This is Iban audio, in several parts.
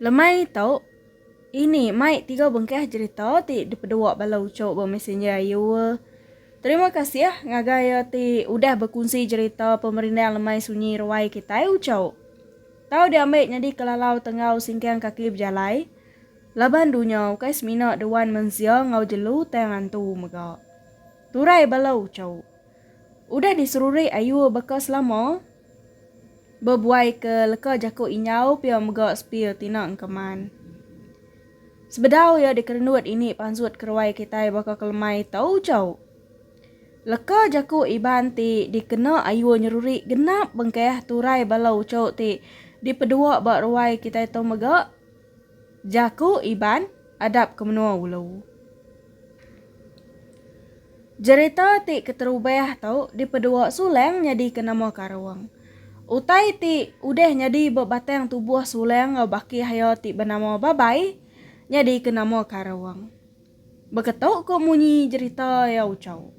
Lemai tu, ini mai tiga bengkah jerita ti dipedua bala uchu ba messenger ayu. Terima kasih ngagai iya ti udah bekunsi jerita pemerindang lemai sunyi ruai kitai uchu. Tau diambi nyadi kelalau tenggau singkang kaki bejalai laban dunya ukai semina dewan mensia enggau jelu tang antu mega. Turai bala uchu. Udah diserurik ayuh baka selama, bebuai ke leka jaku injau pia mega sepil tina engkeman. Sebedau iya dikerenut ini pansut keruai kitai baka kelemai tau jau. Leka jaku Iban ti dikena ayuh nyerurik genap bengkah turai bala uchu ti dipedua ba ruai kitai tu mega. Jaku Iban Adap ke Menua Ulu. Jerita ti keterubah tu dipedua Sulang nyadika nama Karong. Utai ti udah nyadi ba batang tubuh Sulang enggau bakih iya ti benama Babai nyadika nama Karong. Beketu ku munyi jerita iya uchu.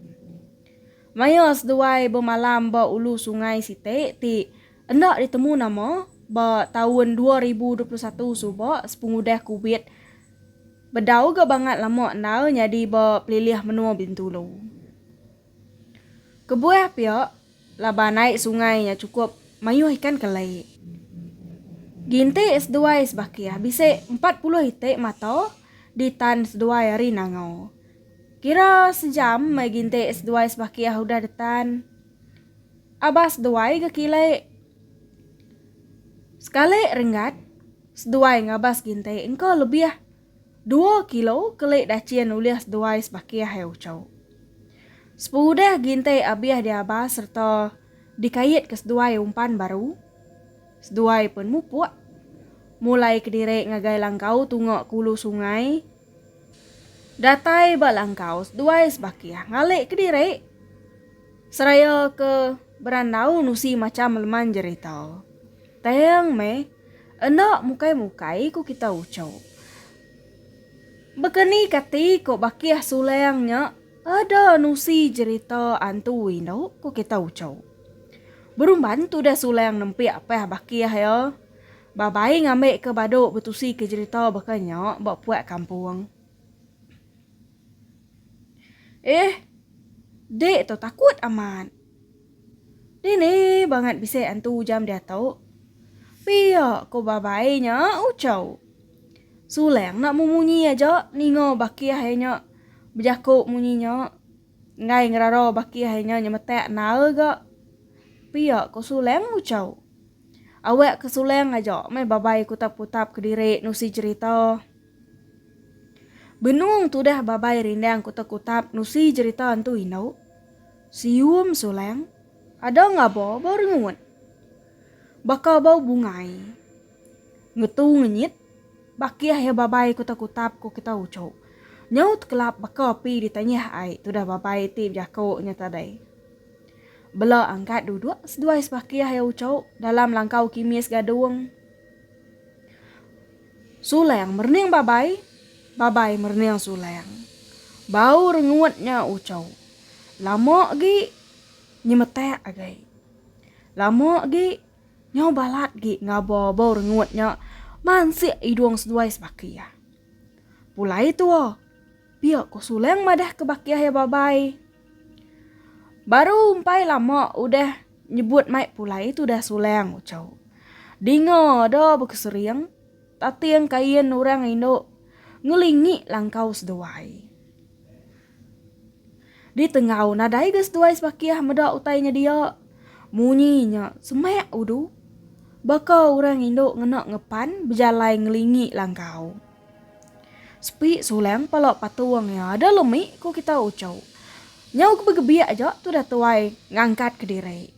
Maya seduai bemalam ba ulu sungai siti ti Enda ditemu nama ba taun dua ribu dua puluh satu suba sepengudah Covid bedau ga bangat lama endar nyadi ba pelilih menua Bintulu. Kebuah pia laban ai sungai nya chukup mayuh ikan keli. Ginti seduai sebakih bisi empat puluh iti mata ditan seduai ari Nangau. Kira sejam meh ginti seduai sebakih udah ditan. Abas seduai ga kile. Sekali renggat, seduai ngabas ginti engka lebih dua kilo keli dachin ulih seduai sebakih ai uchau. Seperudah ginti abih diabas sereta dikait ke seduai umpan baru, seduai pen mupuk, mulai kediri ngagai langkau tunga ke ulu sungai, Datai ba langkau seduai sebakih ngalik kediri seraya ke berandau nusi macham leman jerita. Tang meh enda mukai-mukai ku kita uchu. Baka ni kati ko bakih sulang nya ada nusi jerita antu indu ku kita uchu. Berumban tudah sulang nempik pah bakih iya. Ba bai ngambi ke badu betusi ke jerita baka nya ba puak kampung. Eeh. Dik tu takut amat. Dini bangat bisi antu jam diatu? Pia ko ba bai nya ucau. Sulang nak memunyi aja ninga bakih ai nya bejaku munyi nya. Enggai ngerarau baki hai nya nyemetak nal ga. Pia ko Suleng nguchau. Awak ke Suleng aja meh Babai kutap-kutap kediri nusi jerita. Benung tudah Babai rindang kutap-kutap nusi jerita entu indu. Sium Suleng. Ada ngaba bau rengut. Baka bau bungai. Ngetu ngenyit, bakih iya babai ku tekutap ku kita uchu. Nyau tekelap baka api di tanyah ai tudah babai ti bejaku nya tadai. Bela angkat duduk seduai sebakih iya uchu dalam langkau kimis gadung. Sulang merening babai, babai merening sulang. Bau rengut nya uchu. Lama agi nyemetak agai. Lama agi Nyau balat gi ngaba bau rengut nya mansik idung seduai sebaki iya. Pulai tua, pia ko Suleng madah ke baki iya babai. Baru umpai lama udah nyebut mai pulai tudah Suleng ucau. Dinga ada bekesering tating kain orang indu ngelingi langkau seduai. Di tengau nadai ga seduai sebakih meda utai nya dia. Munyi nya semak udu. Baka orang indu ngena ngepan bejalai ngelingi langkau. Sepi sulang pala patung iya ada lemi ku kita uchu. Nyau ke begebik aja tudah tuai ngangkat kediri.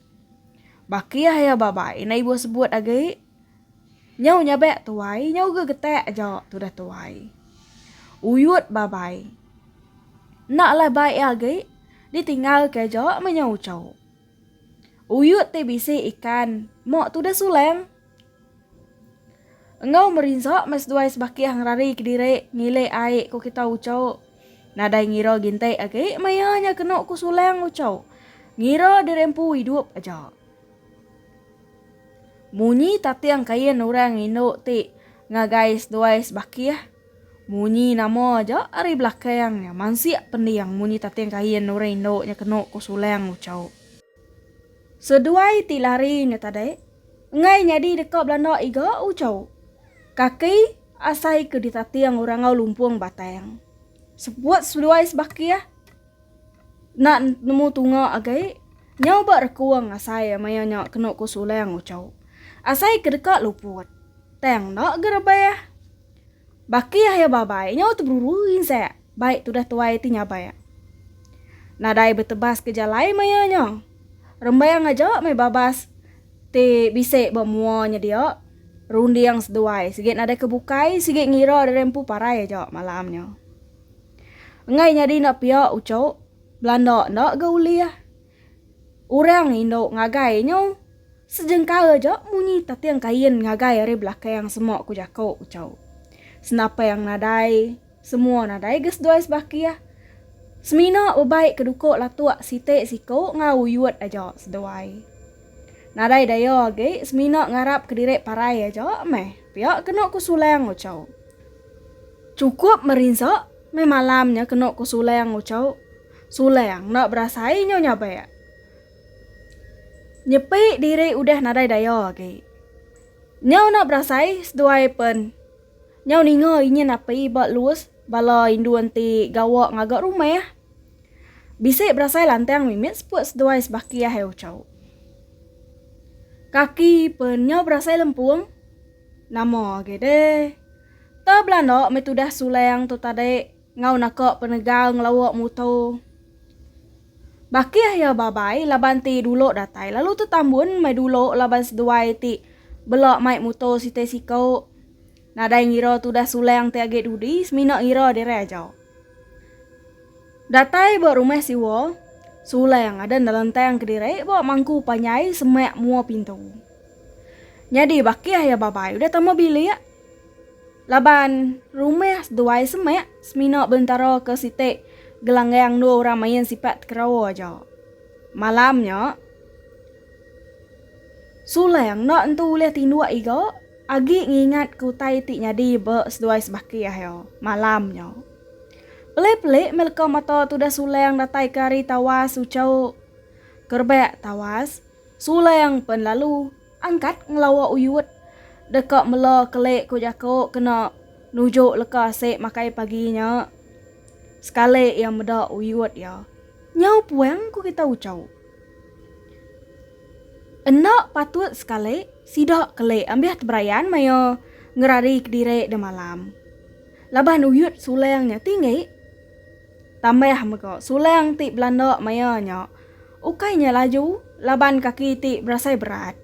Bakih iya babai enda ibuh sebut agi. Nyau nyabek tuai nyau ga getek aja tudah tuai. Uyut babai. Enda alai bai iya agi ditinggal ke aja meh nyau ucho. Uyut ti bisi ikan mok tudah suleng. Enggau merinsa meh seduai sebakih ngerari kediri ngilik ai ku kita ucho. Nadai ngira ginti agi meh iya nya kenu ku suleng ucho. Ngira diri empu idup aja. Munyi tating kain orang indu ti ngagai seduai sebakih, munyi nama aja ari belakang nya mansik pending munyi tating kain orang indu nya kenu ku Sulang Uchau. Seduai ti lari nya tadi enggai nyadi deka belanda iga Uchau. Kaki asai ke ditating orang enggau lumpung batang. Seput seduai sebakih. Enda nemu tunga agai. Nyau ba rekuang asai maya nya kenu ku Sulang uchu. Asai ke deka luput. Tang enda ga rebah. Baki ahi babai nyau teberuru insak bai tudah tuai ti nyabak. Nadai betebas ke jalai maya nya. Rembang aja meh babas ti bisi ba mua nya dia. Runding seduai sigi nadai ke bukai sigi ngira diri empu parai aja malam nya. Enggai nyadi enda pia ucuk, belanda enda ga ulih. Orang indu ngagai nyu sejengka aja munyi tating kain ngagai ari belakang sema ku jaku ucuk. Senapang nadai, semua nadai ga seduai sebakih. Semina bebai ke duku latuk siti siku enggau uyut aja seduai. Nadai daya agi semina ngarap kediri parai aja meh pia kenu ku Sulang ucuk. Chukup merinsa, meh malam nya kenu ku Sulang nguchau. Sulang enda berasai inyo nyabak. Nyepi diri udah nadai daya agi. Nyau enda berasai seduai pen nyau ninga inyin api ba lus bala indu enti gawa ngaga rumah. Bisi berasai lantang mimit seput seduai sebaki ahai uchau. Kaki pen nyau berasai lempung. Nama agi deh. Tau belanda meh tudah sulang tu tadi enggau naka penegal ngelawa muto. Bakih iya babai laban ti dulu datai lalu tetambun meh dulu laban seduai ti bela mai muto siti siko. Nadai ngira tudah sulang ti agi dudi semina ngira diri aja. Datai ba rumah siwa, sulang ada nelentang kediri ba mangku panjai semak mua pintu. Nyadi bakih iya babai udah tama bilik laban rumah seduai semak semina belentara ke siti gelanggang dua orang main sipak tekerawa aja. Malam nya Sulang enda entu ulih tinduk iga agi ngingat ke utai ti nyadi ba seduai sebakih iya malam nya. Pelik-pelik meh leka mata tudah Sulang datai ke ari tawas Uchau ke rebak tawas. Suleng pen lalu angkat ngelawa uyut deka mela kelik ku jako kena nuju leka sik makai pagi nya. Sekali iya meda uyut iya, nyau puang ku kita ucau. Enda patut sekali sida kelik ambih teberayan maya ngerari kediri demalam. Laban uyut suleng nya tinggi. Tambah mega, sulang ti belanda maya nya ukai nya laju laban kaki ti berasai berat.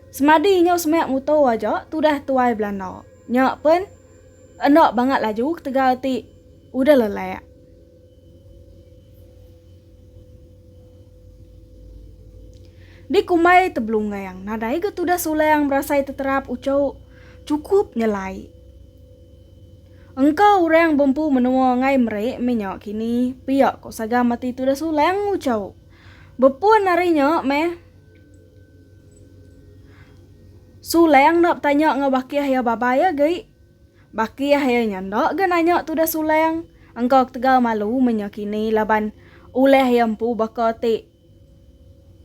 Semadi inyo semak muto aja tudah tuai belanda nya pen enda bangat laju ketegal ti udah lelak. Di Kumbai Tebelunggang, nadai ga tudah sulang berasai teterap uchu chukup nyelai. Engka urang bempu menua ngai meri minya kini pia ko sagam ati tudah sulang ucau. Bepun ari nya meh Sulang enda betanya enggau bakih iya babai agi. Bakih iya nya enda ga nanya tudah Sulang. Engka ketegal malu minya kini laban ulih iya empu baka ti.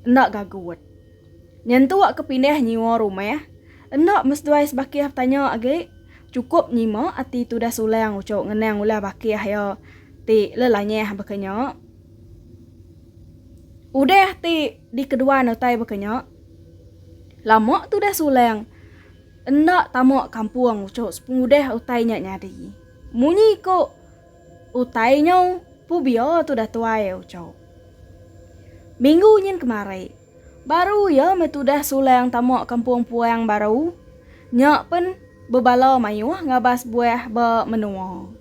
enda gagut. Nyentuk ke pindah nyiwa rumah, enda meseduai sebakih betanya agi, chukup nyima ati tudah Sulang uchu ngenang ulah bakih iya ti lelanyah baka nya. Udah ti dikeduan utai baka nya, lama tudah Sulang enda tama kampung uchu sepengudah utai nya nyadi. Munyi ku. Utai nyo Pubio tudah tuai Uco. Minggu nyin kemari, baru iya meh tudah sulang tama kampung Puang Baru, nya pen bebala mayuh ngabas buah ba menua.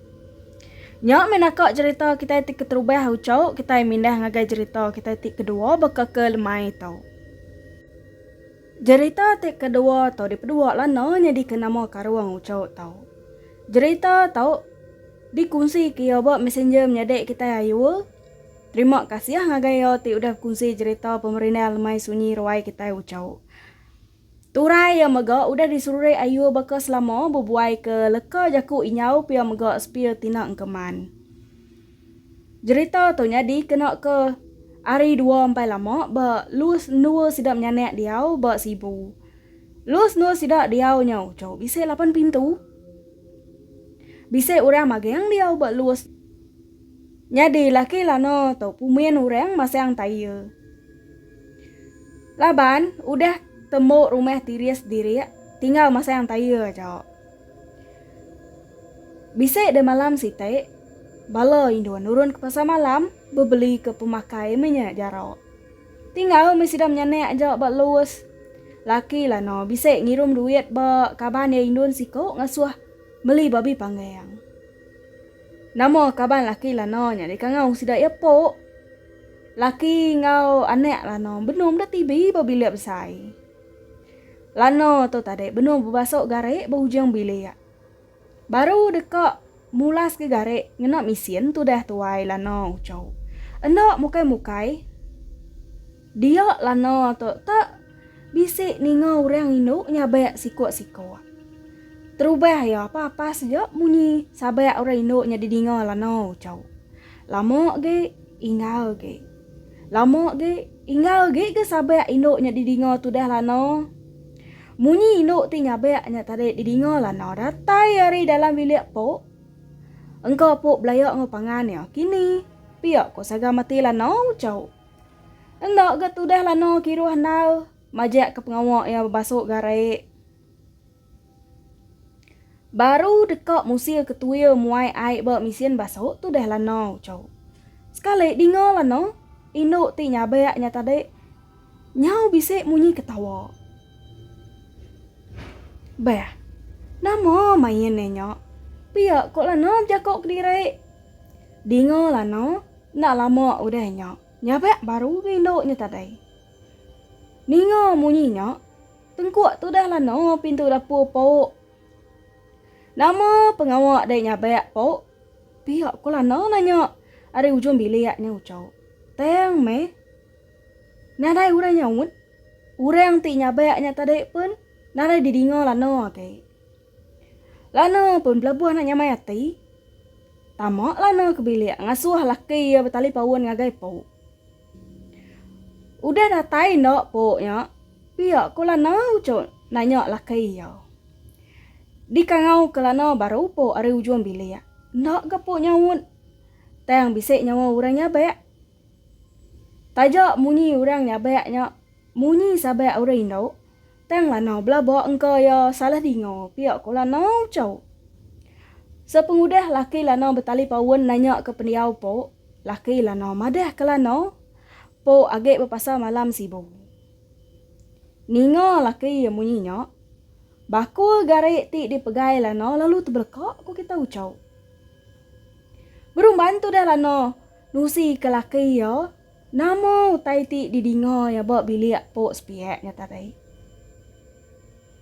Nya meh naka jerita kitai ti keterubah Uco, kitai mindah ngagai jerita kitai ti kedua baka ke lemai tu. Jerita ti kedua tu dipedua Lana nyadika nama Karung Ucho tu. Jerita tu dikunsika iya ba Messenger menyadi kitai Ayul. Terima kasih ngagai iya ti udah bekunsi jerita pemerindang lemai sunyi ruai kitai Ucho. Turai iya mega udah diserurik Ayul baka selama bebuaika leka jaku inyau pia mega sepil tina engkeman. Jerita tu nyadi kena ke ari dua empai lama ba Lus endur sida menyanak diau ba Sibu. Lus endur sida diau nya uchu bisi lapan pintu. Bisi orang magang diau ba Lus. Nyadi laki lana tu pumin orang masang taie. Laban udah tembu rumah tiris diri tinggal masang taie aja. Bisi deh malam siti, bala indu nurun ke pasar malam bebeli ke pemakai meh nya jara. Tingau meh sida menyanak aja ba Lewes. Laki Lana bisi ngirum duit ba kaban iya indun siku ngasuh meli babi panggang. Nama kaban laki Lana nya dikangau sida iya Pok. Laki enggau anak Lana benung deh tibi ba bilik besai. Lana tu tadi benung bebasok garik ba ujung bilik. Baru deka mulas ke garik ngena misin tudah tuai Lana ucau. Enda mukai-mukai dia Lana tu tak bisi ninga urang indu nyabak sikok-sikok. Terubah iya papas aja munyi sabak urang indu nya didinga Lana ucau. Lama agi ingau agi. Lama agi, ingau agi ke sabak indu nya didinga tudah Lana. Munyi indu ti nyabak nya tadi didinga Lana datai ari dalam bilik Pok. Engka Pok belaya enggau pangan iya kini, pia ko Saga Mati Lana uchau. Enda ga tudah Lana kiruh enal, majak ke pengawa iya bebasuk garik. Baru deka musil ke tuil muai ai ba misin basok tu deh lana ucau. Sekali dinga lana, indu ti nyabek nya tadi nyau bisi munyi ketawa. Beh, nama main iya nya? Pia ko lana bejako kediri. Dinga lana, enda lama udah nya, nyabek baru ke indu nya tadi. Ninga munyi nya. Tengkuk tudah lano pintu dapur pauk. Nama pengawa dai nyabak pauk? Pia ko lano nanya ari ujung bilik nya Ucho. Tang meh. Nadai orang nyaut. Orang ti nyabak nya tadi pun nadai didinga lano agi. Lano pun belabuh anak nyamai ati. Tama lano ke bilik ngasuh laki iya betalipaun ngagai pauk. Udah datai enda pok nya, pia Kulana ucut nanya laki iya. Dikangau Kulana baru pok ari ujung bilik. Enda ga pok nyaut. Tang bisi nyawa urang nyabak. Taja munyi urang nyabak nya munyi sabak urang indu, tang Lana belaba engka iya salah dinga pia Kulana ucut. Sepengudah laki Lana betali paun nanya ke pendiau pok, Laki lanau madah ke lanau, Pok agi bepasal malam sibu. Ninga laki iya munyi nya, bakul gari ti dipegai lanau lalu tebeleka ku kita ucau. Berumban tudah lanau nusi ke laki iya nama utai ti didinga iya ba bilik Pok Sepiak nya tadi.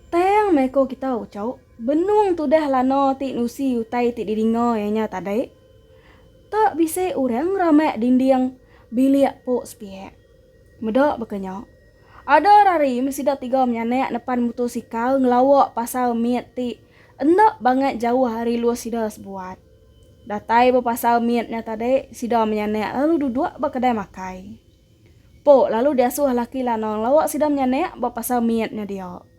Tang meh ko kita ucau, benung tudah lanau ti nusi utai ti didinga iya nya tadi. Tak bisi orang ramak dinding bilik pok sepiak. Meda baka nya. Ada orang ari meh sida tiga menyanak nepan mutosikal ngelawa pasar mit ti enda bangat jauh ari lus sida sebuat. Datai ba pasar mit nya tadi sida menyanak lalu duduk ba kedai makai. Pok lalu diasuh laki lanang lawa sida menyanak ba pasar mit nya dia.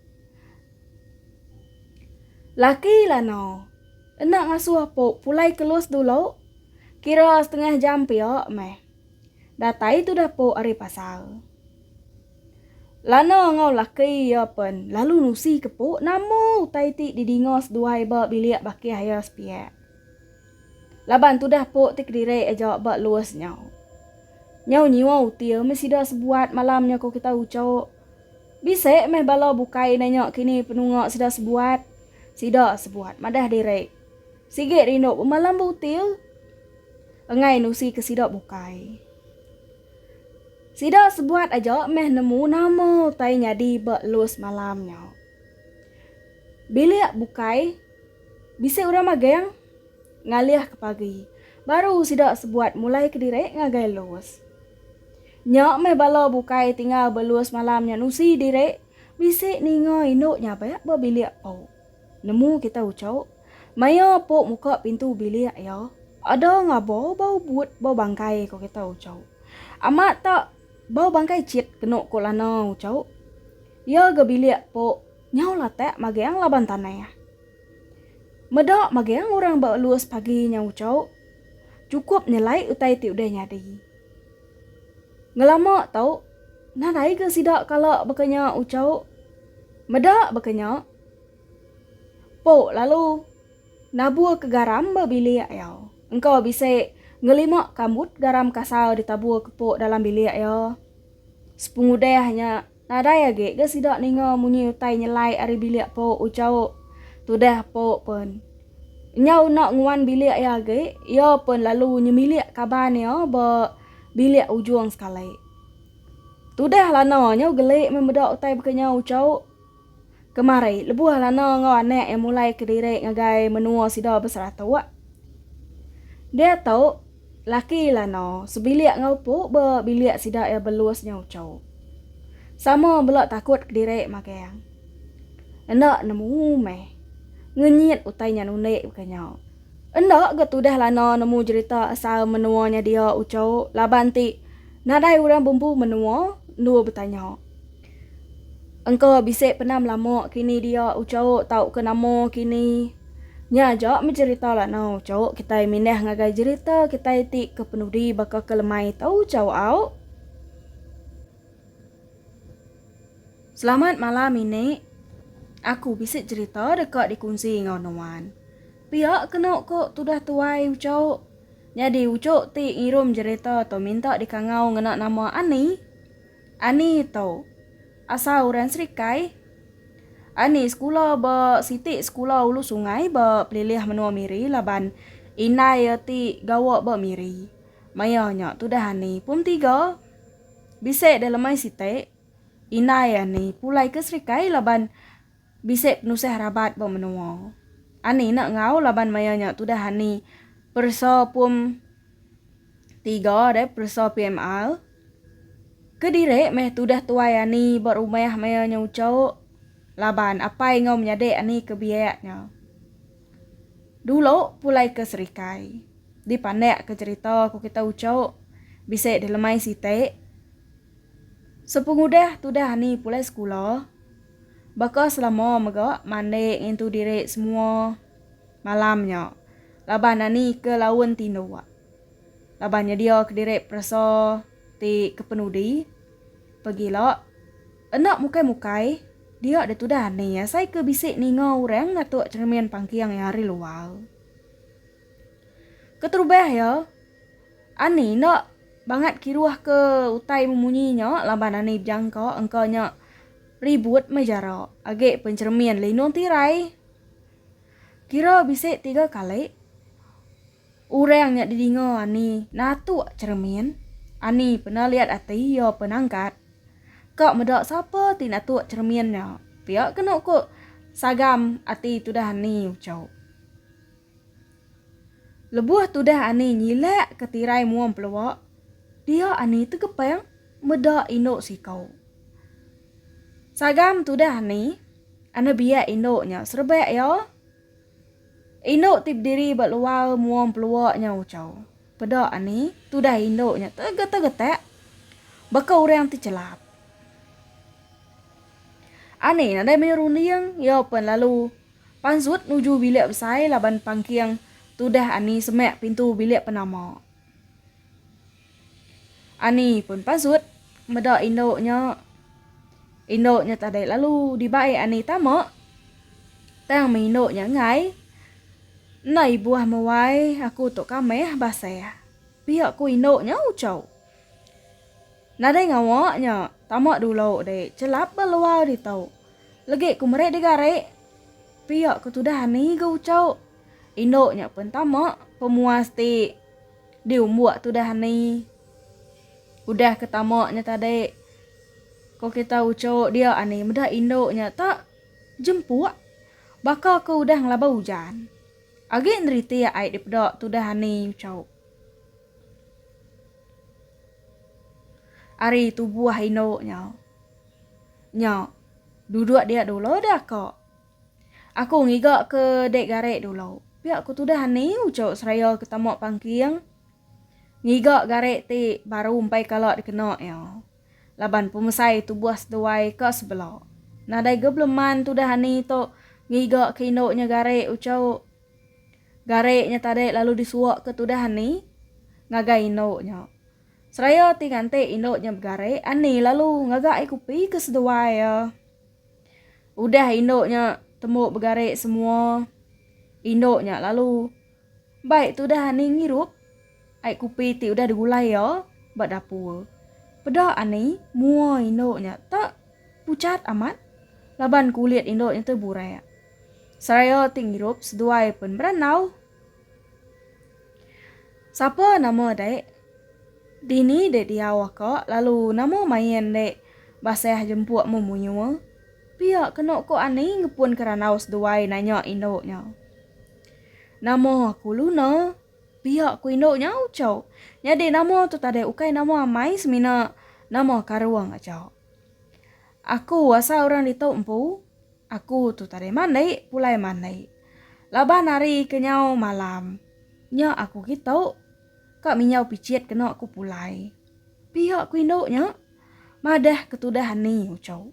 Laki lanau enda ngasuh apu pulai kelus dulu, kira setengah jam pia meh. Datai tudah apu ari pasar. Lana enggau laki iya pen lalu nusi ke apu nama utai ti didinga seduai ba bilik bakih iya sepiak. Laban tudah apu ti kediri aja ba luas nyau. Nyau nyiwa util meh sida sebuat malam nya ku kitai uchu. Bisi meh bala bukai nanya kini penunga sida sebuat. Sida sebuat madah diri. Sigi rindu bemalam butil enggai nusi ke sida bukai. Sida sebuat aja meh nemu nama utai nyadi ba elus malam nya. Bilik bukai bisi orang magang ngalih ke pagi baru sida sebuat mulai kediri ngagai elus. Nya meh bala bukai tinggal belua semalam nya nusi diri bisi ninga indu nya ba ba bilik Pok. Nemu kita ucuk. Maya Pok muka pintu bilik iya, ada ngaba bau but bau bangkai ko kita ucuk. Amat ta bau bangkai cit kenu ko Lana ucuk. Iya ga bilik Pok nyau latak magang laban tanah. Meda magang orang ba luas pagi nya ucuk. Cukup nyelai utai ti udah nyadi. Ngelama tau, nadai ga sida kala baka nya Uchau. Meda baka nya, Po lalu nabur ke garam ba bilik iya. Engka bisi ngelima kambut garam kasar ditabur ke Po dalam bilik iya. Sepengudah nya. Nadai agi ga sida ninga munyi utai nyelai ari bilik Pok Uchauk. Tudah Pok Pun. Nyau enda nguan bilik iya agi, iya pun lalu nyemilik kaban iya ba bilik ujung sekali. Tudah lana nyau geli meh meda utai baka nyau Uchauk. Kemari, lebuh Lana enggau anak iya mulai kediri ngagai menua sida beseratok, diatu laki Lana sebilik enggau Pu ba bilik sida iya Belus nya uchu. Sama bela takut kediri magang. Enda nemu meh. Ngenyit utai nya nundi baka nya. Enda ga tudah Lana nemu jerita asal menua nya dia uchu laban ti nadai orang bumbu menua endur betanya. Engka bisi pernah melama kini dia ucau tauka nama kini. Nya aja meh jerita lanau ucau kitai mindah ngagai jerita kitai ti ke penudi baka ke lemai tau ucau au. Selamat malam ini. Aku bisi jerita deka dikunsi enggau nuan. Pia kenu ku tudah tuai ucau. Nyadi ucu ti ngirum jerita tu minta dikangau ngena nama Ani. Ani tu? Asal orang serikai? Ani sekula ba siti sekula ulu sungai ba pelilih menua Miri laban indai iya ti gawa ba Miri. Maya nya tudah Ani pum tiga. Bisi delemai siti, indai Ani pulai ke serikai laban. Bisi penusah rabat ba menua. Ani enda enggau laban maya nya tudah ani peresa pum tiga deh peresa PMR. Kediri meh tudah tuai ani ba rumah maya nya uchok laban apai enggau menyadi ani ke biak nya dulu pulai ke Serikai. Dipandak ke cherita ku kita ucho bisi dilemai siti. Sepengudah tudah ni pulai sekula, baka selama mega mandi ngintu diri semua malam nya laban ani ke laun ti indu laban nyediaka diri peresa ti kepenudi pegila enda mukai-mukai dia deh tudah ni asai ke bisi ninga orang ngatuk cheremin pangking iya ari luar. Keterubah iya, Ani enda bangat kiruh ke utai memunyi nya laban Ani bejangka engka nya ribut meh jara agi pencheremin lindung tirai. Kira bisi tiga kali orang nya didinga Ani natuk cheremin, Ani peda liat ati iya penangkat ka meda sapa ti natuk cheremin nya pia kenu ku sagam ati tudah Ani uchu. Lebuh tudah Ani nyilak ke tirai muang pelua, dia Ani tegepang meda indu siko. Sagam tudah Ani, Ani biak indu nya serebak iya. Indu ti bediri ba luar muang pelua nya ucau. Peda Ani, tudah indu nya tegetak-getak baka orang ti chelap. Ani nadai meri runding, iya pen lalu. Panzut nuju bilik besai laban pangking tudah Ani semak pintu bilik penama. Ani pun panzut meda indu nya. Indu nya tadai lalu dibai Ani tama tang meh indu nya enggai. Enda ibuh meh wai aku tu kameh basah. Pia ku indu nya uchau. Nadai ngawa nya, tama dulu deh celap ba luar ditu. Legi ku meri digari, pia ku tudah ani ga uchu. Indu nya pun tama pemuas ti diumbuk tudah ani. Udah ke tama nya tadi, ko kita uchu dia ani meda indu nya ta jempuk baka ko udah ngelaba ujan. Agi neritik ai dipeda tudah ani uchu. Ari tubuh indu nya. Nya. Duduk dia dulu dah ko. Aku ngiga ke dek gare dulu. Pia ku tudah ani ucu seraya ke tama pangking. Ngiga gare ti baru empai kala dikena iya. Laban pemesai tubuh seduai ka sebela. Nadai ga belum man tudah ani tu ngiga ke indu nya gare ucu. Gari nya tadi lalu disuakka tudah Ani ngagai indu nya. Seraya ti nganti indu nya begari, Ani lalu ngaga ai kupi ke seduai iya. Udah indu nya tembu begari semua, indu nya lalu bai tudah Ani ngirup ai kupi ti udah digulai iya ba dapur. Peda Ani mua indu nya tak pucat amat laban kulit indu nya tu burak. Seraya ti ngirup seduai pen berandau. Sapa nama dek? Dini dek diau aka lalu nama main dek baseh jempuk memuyua? Pia kenu ko ani ngepun ke randau seduai nanya indu nya. Nama aku Luna. Pia ko indu nya ucau. Nyadi nama tu tadi ukai nama amai semina nama karung aja. Aku asa orang ditu empu, aku tu tadi mandi pulai mandi. Laban hari kenyau malam. Nya aku kitu ka minjau pichit kena aku pulai. Pia ku indu nya madah ketudah ani uchu.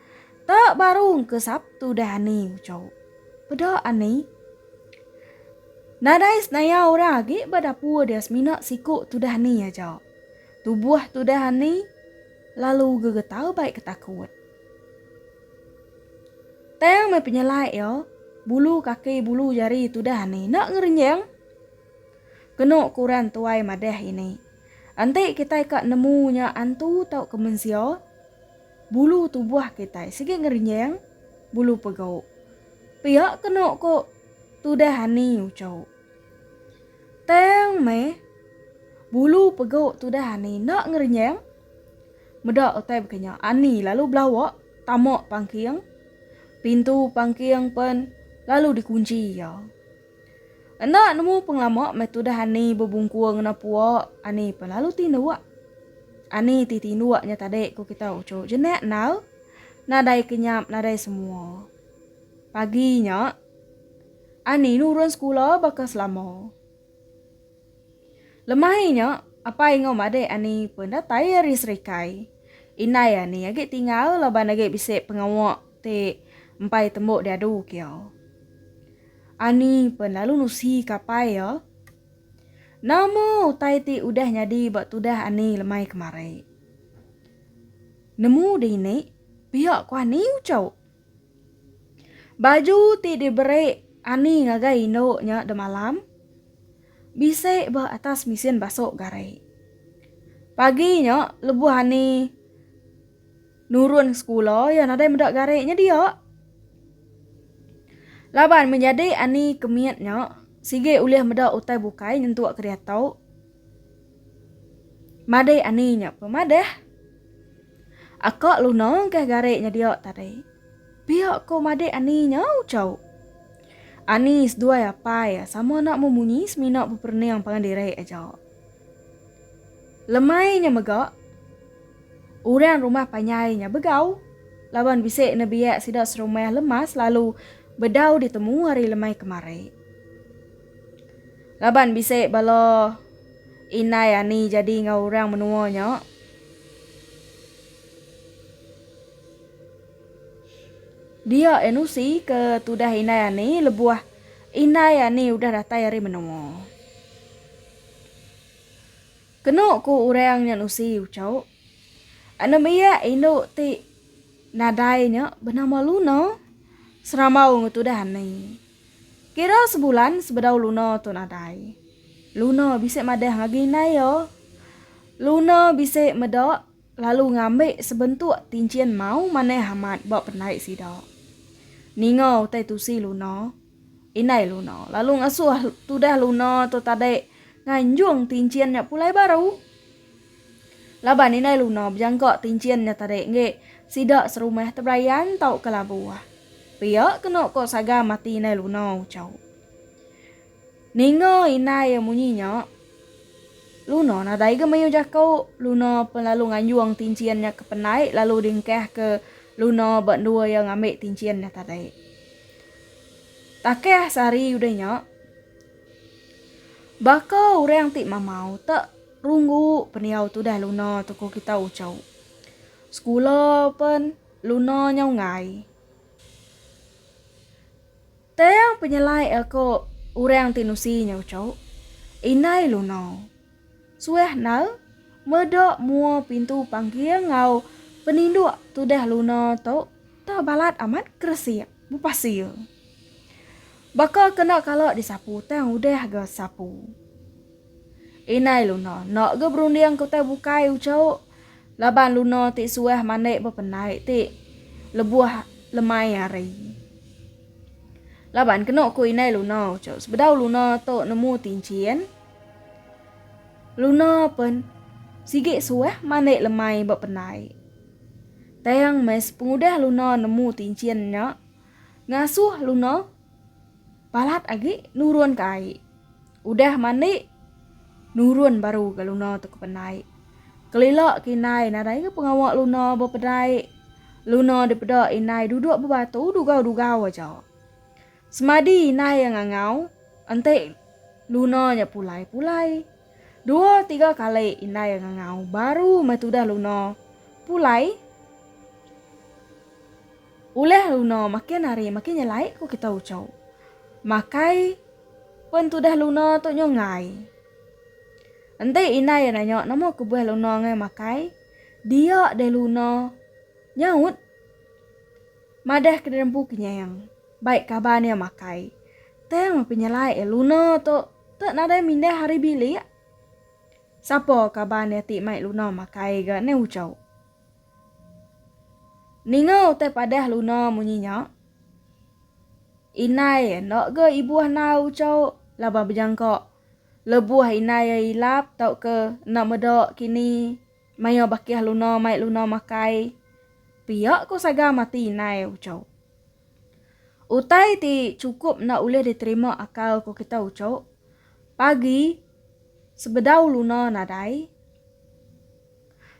Ta baru engka Sabtu dah ani ucau. Peda ani. Nadai senaya orang agi ba dapur dia semina siku tudah ni aja. Tubuh tudah ani lalu gegetar bai ketakut. Tang meh penyelai iya, bulu kaki bulu jari tudah ani enda ngerenjang. Kena ke orang tuai madah ini. Enti kitai ka nemu nya antu tauka mensia, Bulu tubuh kitai sigi ngerinjing bulu pegau. Pia kenu ku tudah ani ucau. Tang meh, bulu pegau tudah ani enda ngerinjing. Meda utai baka nya, ani lalu belawa tama pangking. Pintu pangking pen lalu dikunchi iya. Enda nemu pengelama meh tudah ani bebungkur ngena pua ani pe lalu ti nduak. Ani ti tinduk nya tadi ku kita uchu jenak endar nadai kenyap nadai semua. Pagi nya ani nurun sekula baka selama. Lemah e nya, apai enggau madik ani pun datai ari Serikai. Indai ani agi tinggal laban agi bisi pengawa ti empai tembu diadu kia. Ani pun lalu nusika apai iya, Nama utai ti udah nyadi ba tudah ani lemai kemari? Nemu dini pia ku ani uchu. Baju ti diberi Ani ngagai indu nya demalam, bisi ba atas mesin basu gari. Pagi nya lebuh Ani nurun sekula iya nadai meda gari nya dia. Laban menyadi Ani ke mit nya sigi ulih meda utai bukai nyentuk ke diatu. Madai Ani nya pemadah. Aka Luna engkah garik nyedia tadi. Pia ko madik Ani nya Uchau. Ani seduai apai sama enda mu munyi semina beperening pangan diri aja. Lemai nya mega orang rumah panjai nya begau laban bisi nebiak sida serumah lemas lalu bedau ditemu hari lemai kemari. Laban bisi bala indai Ani jadi enggau orang menua nya. Dia Enusi ke tudah indai Ani lebuh indai Ani udah datai ari menoa. Kenu ku urang nya Nusi uco. Anem ia indu ti nadai nya benama Luna, seramau ngetudah Ani. Kira sebulan sebedau Luna tu nadai. Luna bisi madah ngagai indai iya. Luna bisi meda lalu ngambi sebentuk tinchin mau manah amat ba pendai sida. Ninga utai tusi Luna, indai Luna lalu ngasuh tudah Luna tu tadi nganjung tinchin nya pulai baru. Laban indai Luna bejangka tinchin nya tadi enggi, sida serumah teberayan tauka labu. Pia kenu ko Sagam ati indai Luna uchauk. Ninga indai iya munyi nya, Luna nadai ga mayuh jaku, Luna pen lalu nganjung tinchin nya ke pendai lalu diengkahka Luna ba endua iya ngambi tinchin nya tadi. Takah sehari udah nya, baka orang ti mamau tak. Runggu pendiau tudah luna tu ko kita uco. Sekula pen luna nyau enggai. Tang penyelai a ko orang ti nusi nyau uco. Indai luna. Suah nal meda mua pintu panggil enggau peninduk tudah luna tu tau balat amat keresik bepasil. Baka kena kala disapu tang udah ga sapu. Indai Luna enda ga berunding ke utai bukai uchauk laban Luna ti suah mandai bependai ti lebuh lemai hari. Laban kenu ku Indai Luna uchauk sebedau Luna tu nemu tinchin, Luna pen sigi suah mandai lemai bependai. Tang meh sepengudah Luna nemu tinchin nya ngasuh Luna balat agi nurun ke ai. Udah mandi, nurun baru ga Luna tu ke penai. Kelila ke indai nadai ga pengawa Luna bepedai. Luna dipeda indai duduk bebatu dugau-dugau aja. Semadi indai iya ngangau, enti Luna nya pulai-pulai. Dua tiga kali indai iya ngangau baru meh tudah Luna pulai. Ulih luna makin hari makin nyelai ku kita ucau. Makai pen tudah luna tu nyu enggai. Enti indai iya nanya nama kebuah luna enggai makai, dia deh luna nyaut madah ke diri empu kenyang. Bai kaban iya makai. Tang meh penyelai iya luna tu te nadai mindah hari bilik. Sapa kaban iya ti mai luna makai ga ne ucau. Ninga utai padah Luna munyi nya, indai enda ga ibuh nau uchau laban bejangka lebuh indai iya ilap tauka enda meda kini maya bakih Luna mai Luna makai pia ko Saga mati indai uchau. Utai ti chukup enda ulih diterima akal ko kita uchau, pagi sebedau Luna nadai,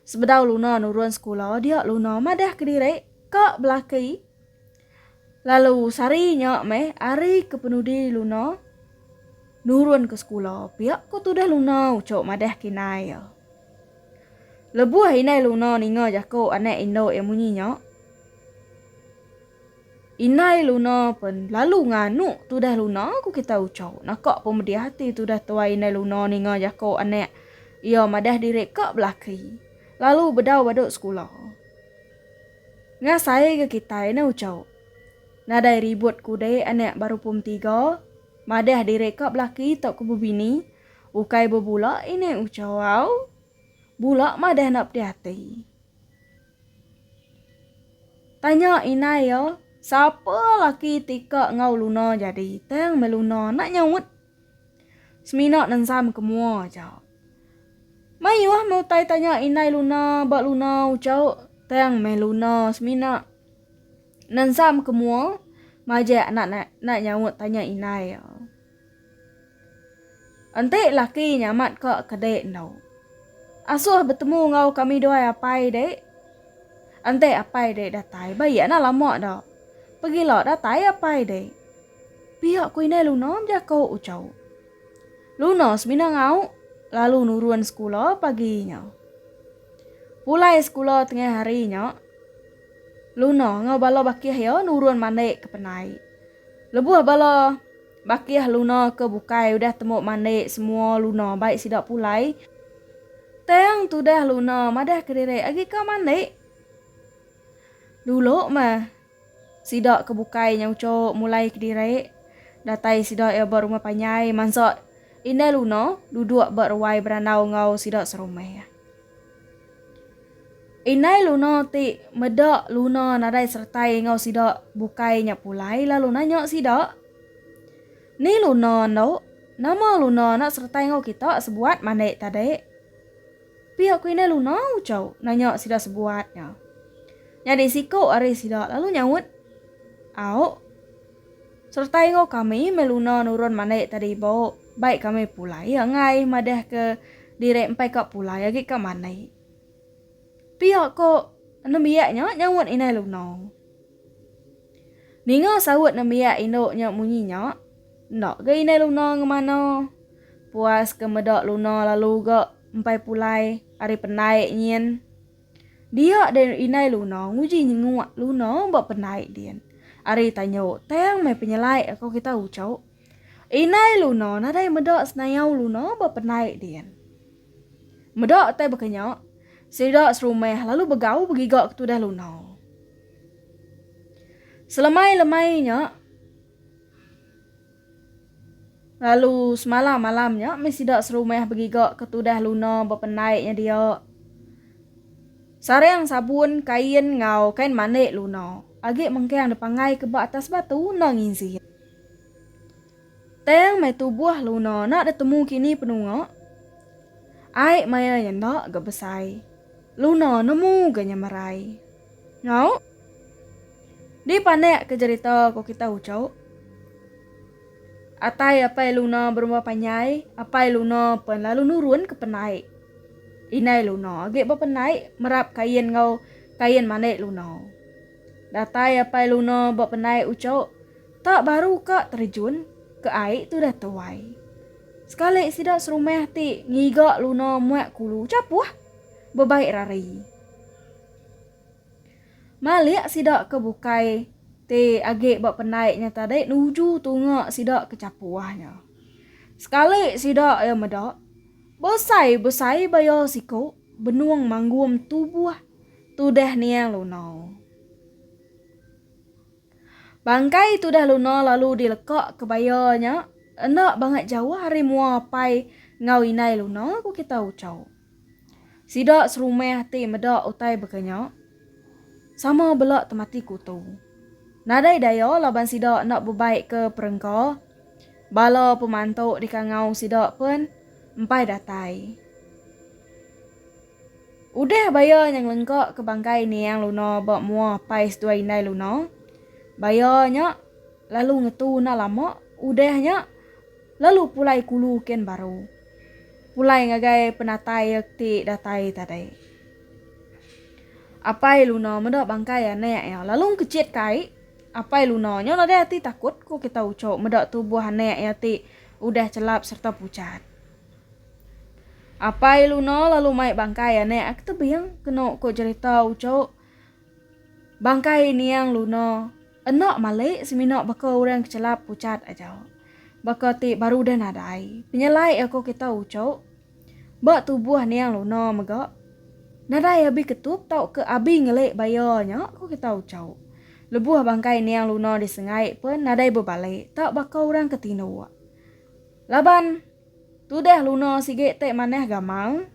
Sebedau Luna nurun sekula dia Luna madah kediri ka belaki lalu sehari nya meh hari ke penudi Luna nurun ke sekula pia ko tudah Luna ucho madah kinai iya. Lebuh indai Luna ninga jako anak indu iya munyi nya. Indai Luna pen lalu nganu tudah Luna ku kitai Uchau. Naka pemedih ati tudah tuai Indai Luna ninga jako anak iya madah diri ka belaki lalu bedau badu sekula. Ngasai ga kitai ne Uchau. Nadai ribut kudi anak baru pum tiga madah diri ka belaki tauka bebini ukai bebula Indai Uchau au. Bula madah enda pedih ati. Tanya inai iya, Sapa laki ti ka enggau Luna jadi? Tang meh Luna enda nyaut. Semina nensam ke mua aja. Mayuh meh utai tanya inai Luna ba Luna ucau, tang meh Luna semina nensam ke mua majak enda enda nyaut tanya inai iya. Enti laki nyamat ka kedi endo. Asuh betemu enggau kami duai apai dek. Enti apai dek datai ba iya na lama da. Pegila datai apai dek. Pia ku indai Luna bejako Uchau. Luna semina ngau lalu nurun sekula pagi nya. Pulai sekula tengah hari nya Luna enggau bala bakih iya nurun mandi ke penai. Lebuh bala. Bakih Luna ke bukai udah tembu mandi semua Luna bai sida pulai. Tang tudah Luna madah kediri agi ka mandi. Dulu meh sida ke bukai nya uchu mulai kediri. Datai sida iya ba rumah panjai mansa indai Luna duduk ba ruai berandau enggau sida serumah. Indai Luna ti meda Luna nadai seretai enggau sida bukai nya pulai lalu nanya sida, Ni Luna endo? Nama Luna enda seretai enggau kita sebuat mandi tadi? Pia ku Indai Luna ucau nanya sida sebuat nya. Nyadi siku ari sida lalu nyaut, Au. Sereta enggau kami meh Luna nurun mandi tadi ibu, baik kami pulai iya enggai madah ke diri empai ka pulai agi ka mandi. Pia ko nembiak nya nyaut indai Luna. Ninga saut nembiak indu nya munyi nya, enda ga indai Luna ngemana puas ke meda Luna lalu ga empai pulai ari pendai nyin. Dia deh indai Luna nguji nyenguk Luna ba pendai din. Ari tanyu tang meh penyelai ko kita ucok. Indai Luna nadai meda senayau Luna ba pendai din. Meda utai baka nya, sida serumah lalu begau begiga ke tudah Luna. Selemai-lemai nya. Lalu semalam malam nya mih sida serumah begiga ke tudah Luna bependai nyedia sarang sabun, kain enggau kain mandi Luna. Agi mengkang dipanggai ke ba atas batu enda nginsi. Tang mai tubuh Luna enda ditemu kini penunga. Ai maya nya enda ga besai. Luna nemu ga nyemerai. Nyau. Di panek ke jerita ko kita uco. Atai apai luna berumba panyai, apai luna pen lalu nurun ke penai. Inai luna agi ba penai merap kain enggau kain mane luna. Datai apai luna ba penai uco, tak baru ka terjun ke ai tu dah tuai. Sekali sida serumah ti ngiga luna muak kulu capuh bebai rari. Malik sida ke bukai ti agi ba pendai nya tadi nuju tunga sida ke chapuh nya. Sekali sida iya meda, besai-besai baya siku benung manggum tubuh tudah niang Luna. Bangkai tudah Luna lalu dileka ke baya nya enda bangat jauh ari mua apai enggau indai Luna, ku kita Ucho. Sida serumah ti meda utai baka nya sama bela temati kutu. Nadai daya laban sida enda bebaikka perengka, bala pemantu di kangau sida pen empai datai. Udah Baya nya ngelengka ke bangkai Niang Luna ba mua apai seduai indai Luna, Baya nya lalu ngetu enda lama udah nya, Lalu pulai kulu ken baru. Pulai ngagai penatai ia kti datai tadi. Apai Luna meda bangkai anek ia lalu ngkejit kai. Apai Luna nyo nadai ati takut ko kita ucho meda tubuh anek ia ti udah chelap serta puchat. Apai Luna lalu mai bangkai anek ia ke tebing keno ko jerita ucho. Bangkai Niang Luno eno mali semina baka orang kechelap puchat aja. Baka ti baru udah nadai penyelai aku kita uchu ba tubuh Niang Luno mega nadai abi ketup tauka abi ngeli baya nya ku kita uchu. Lebuh bangkai Niang Luno disengai pen nadai bebali tak baka orang ke tinduk. Laban. Tudah luna sigi te manah gamal.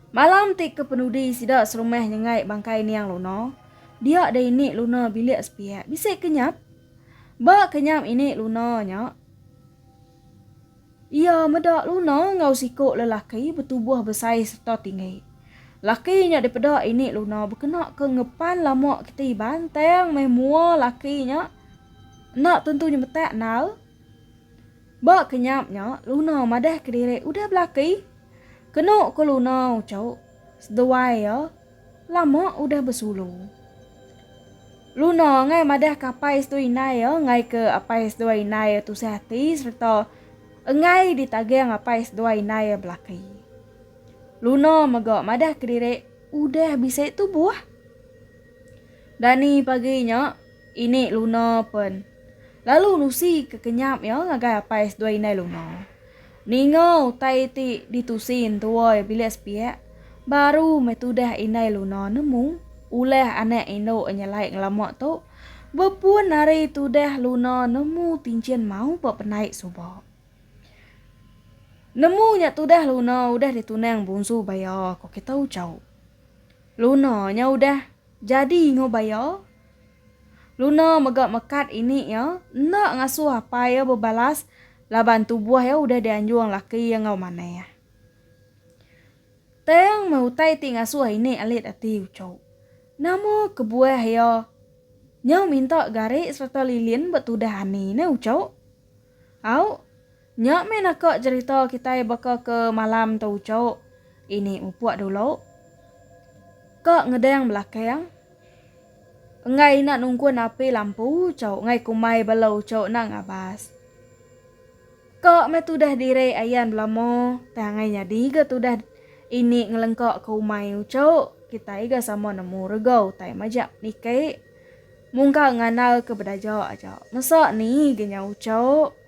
Malam ti kepenudi sida serumah nyengai bangkai niang luna, dia deh ini luna bilik sepiak bisi kenyap. Ba kenyap ini luna nya, iya meda luna enggau siku lelaki betubuh besai serta tinggi. Laki nya dipeda ini luna bekena ke ngepan lama keti iban tang meh mua laki nya enda tentu nyemetak nal. Ba kenyap nya, Luna madah kediri udah belaki. Kenu ko Luna uchup, seduai iya lama udah besulu. Luna angai madah ke apai seduai indai iya enggai ke apai seduai indai iya tusah ati sereta enggai ditaging apai seduai indai iya belaki. Luna mega madah kediri udah bisi tubuh. Dani pagi nya, ini Luna pen lalu nusi ke kenyap iya ngagai apai seduai indai Luna. Ninga utai ti ditusi entua iya bilik sepiak, baru meh tudah indai Luna nemu ulah anak indu iya nyelai ngelama tu bepun ari tudah Luna nemu tinchin mau ba penai suba. Nemu nya tudah Luna udah ditunang bungsu baya ko kitu chau. Luna nya udah jadi ngubah iya. Luna mega mekat ini iya enda ngasuh apai iya bebalas laban tubuh iya udah dianjung laki iya enggau manah. Tang meh utai ti ngasuh ini alit ati uchu. Nama kebuah iya nyau minta gari sereta lilin betudah ani ne uchu? Au. Nya meh naka jerita kitai baka ke malam tu ucok ini mupuk dulu ka ngedang belakang enggai ina nungkun api lampu ucok enggai kumbai bala ucok enda ngabas ka meh tudah diri ayan belama tang enggai nyadi ga tudah ini ngelengka ke umai ucok kitai ga sama nemu rega utai maja niki mungka ngandal ke bedaja aja mesa ni ga nya ucok.